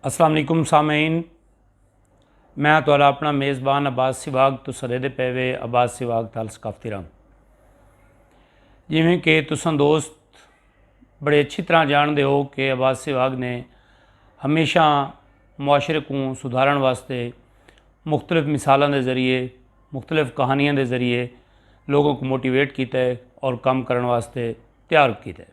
السلام علیکم سامعین میں تو اپنا میزبان عباس سواگ تو سرے دے پیوے عباس سواگ تال ثقافتی رام جیویں کہ تسان دوست بڑے اچھی طرح جان دے ہو کہ عباس سواگ نے ہمیشہ معاشرے کو سدھارن واسطے مختلف مثالوں دے ذریعے مختلف کہانیاں دے ذریعے لوگوں کو موٹیویٹ کیتا ہے اور کام کرن واسطے تیار کیتا ہے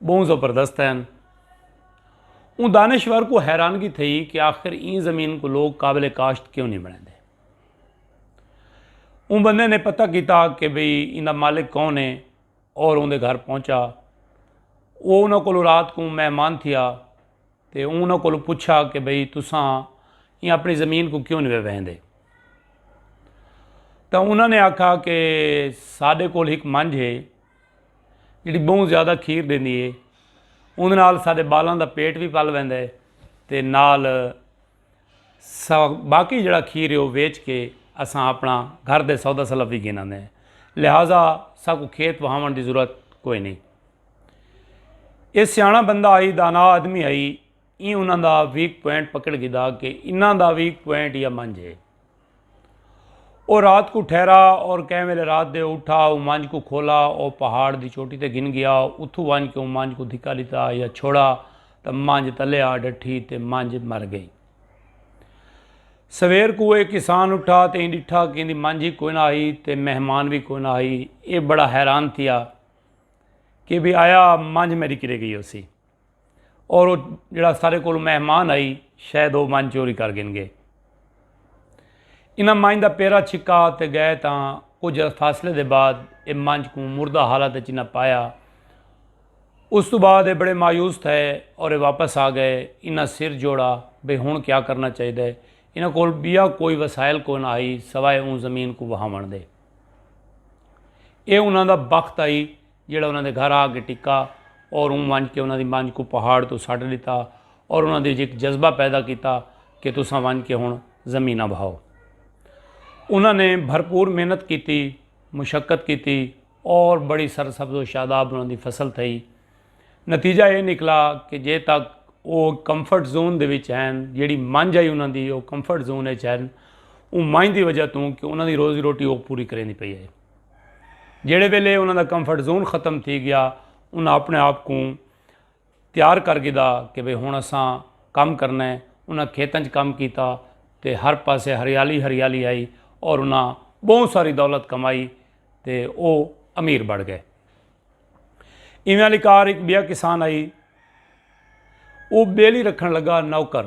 بہوں زبردست ہین۔ اوں دانشور کو حیرانگی تھئی کہ آخر ایں زمین کو لوگ قابل کاشت کیوں نہیں بنے دے۔ اوں بندے نے پتہ کیتا کہ بھئی ان دا مالک کون ہے اور ان دے گھر پہنچا وہ انہاں کو رات کو مہمان تھیا تے انہاں کو پوچھا کہ بھئی تساں یہ اپنی زمین کو کیوں نہیں وہن دے تو انہاں نے آکھا کہ ساڈے کول ایک منج ہے جیڑھی بہوں زیادہ کھیر ڈیندی ہے اوندے نال ساڈے بالاں دا پیٹ وی پل ویندا ہے تے نال باقی جیڑا کھیر ہے او ویچ کے اساں اپنا گھر دے سودا سلف وی گھن آندے ہیں لہذا ساکو کھیت وہاون دی ضرورت کوئی نہیں اے سیاںا بندہ آئی دانا آدمی آئی ای انہاں دا ویک پوائنٹ پکڑ گھدا کہ انہاں دا ویک پوائنٹ یا منجھ ہے او رات کو ٹھہرا اور کہیں ویلے رات دے اٹھا او مانج کو کھولا او پہاڑ دی چوٹی تے گھن گیا اتھو وانج کے او مانج کو دھکا لیتا یا چھوڑا تا مانج تلے آ ڈٹھی تے مانج مر گئی سویر کو اے کسان اٹھا تے ایں ڈٹھا کہ اندی مانج ہی کوئی نہ آئی تے مہمان بھی کوئی نہ آئی اے بڑا حیران تھیا کہ بھی آیا مانج میری کرے گئی ہو سی اور وہ جڑا سارے کو مہمان آئی شاید وہ من چوری کر گن گے انہاں مائن دا پیرا چھکا تے گئے تاں کچھ فاصلے دے بعد اے منج کو مردہ حالت اچ نہ پایا اس تو بعد اے بڑے مایوس تھے اور اے واپس آ گئے انہاں سر جوڑا بھئی ہن کیا کرنا چاہیے انہاں کول بیا کوئی وسائل کو نہ آئی سوائے اون زمین کو وہاون دے اے انہاں دا بخت آئی جیڑھا انہاں دے گھر آ کے ٹکا اور اوں ونج کے انہاں دی منج کو پہاڑ تو سٹ ڈتا اور انہاں دے جک جذبہ پیدا کیتا کہ تساں ونج کے ہن زمیناں بھاؤ انہاں نے بھرپور محنت کیتی مشقت کیتی اور بڑی سرسبز و شاداب انہاں دی فصل تھئی نتیجہ یہ نکلا کہ جے تک وہ کمفرٹ زون دے وچ ہیں جیڑی منج آئی انہاں دی وہ کمفرٹ زون وچ ہیں اون منج دی وجہ توں کہ انہاں دی روزی روٹی وہ پوری کریں دی پئی ہے جیڑھے ویلے انہاں دا کمفرٹ زون ختم تھی گیا انہاں اپنے آپ کوں تیار کر گھدا کہ بھئی ہن اساں کم کرنا ہے انہاں کھیتاں چ کم کیتا تے ہر پاسے ہریالی ہریالی ہئی اور انہاں بہوں ساری دولت کمائی تے او امیر بڑ گئے ایویں والی کار ایک بیا کسان آئی او بیلی رکھن لگا نوکر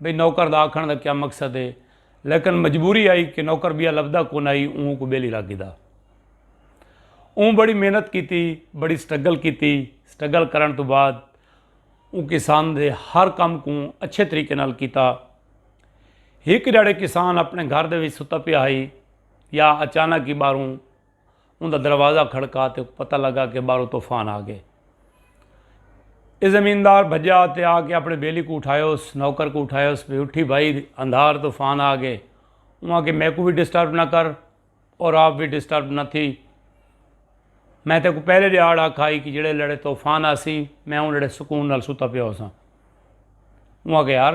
بھئی نوکر دا آکھنڑ دا کیا مقصد ہے لیکن مجبوری آئی کہ نوکر بیا لبھدا کونائی اوں کو بیلی رکھ گھدا اوں بڑی محنت کیتی بڑی سٹرگل کیتی سٹرگل کرن تو بعد اوں کسان دے ہر کم کوں اچھے طریقے نال کیتا ہک جڑے کسان اپنے گھر دے وچ ستا پیا ہائی یا اچانک ہی باہروں اوندا دروازہ کھڑکا تے اونکوں پتہ لگا کہ باہروں طوفان آ گئے۔ اے زمیندار بھجیا تے آ کے اپݨے بیلی کوں اٹھایوس، نوکر کوں اٹھایوس بھئی اٹھی بھائی اندھار طوفان آ گئے۔ اوں آکھیا میکوں وی ڈسٹرب نہ کر اور آپ وی ڈسٹرب نہ تھی۔ میں تیکوں پہلے ݙیہاڑ آکھا ہئی کہ جیڑھے لڑے طوفان آسی میں اوں لڑے سکون نال ستا پیا ہوساں۔ اوں آکھیا یار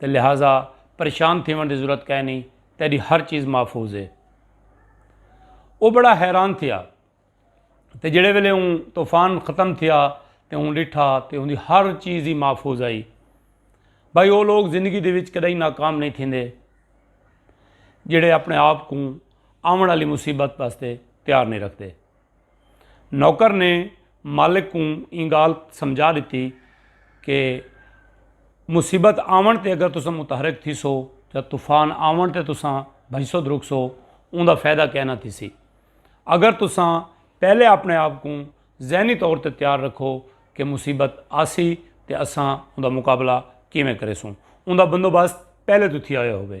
تے لہذا پریشان تھیون دی ضرورت کائے نہیں تیری ہر چیز محفوظ ہے وہ بڑا حیران تھیا تے جڑے ویلے اون طوفان ختم تھیا تے اون ڈٹھا تے ان دی ہر چیز ہی محفوظ آئی بھائی وہ لوگ زندگی دے وچ کدی ناکام نہیں تھیندے جڑے اپنے آپ کو آمن والی مصیبت واسطے تیار نہیں رکھتے نوکر نے مالک کوں ایں گالھ سمجھا ڈتی کہ مصیبت آون تے اگر تساں متحرک تھیسو یا طوفان آون تے تساں بھجسو درکسو اوندا فائدہ کائے نہ تھیسی۔ اگر تساں پہلے اپنے آپ کوں ذہنی طور تے تیار رکھو کہ مصیبت آسی تے اساں اوندا مقابلہ کیویں کریسوں۔ اوندا بندوبست پہلے توں تھیا ہویا ہووے۔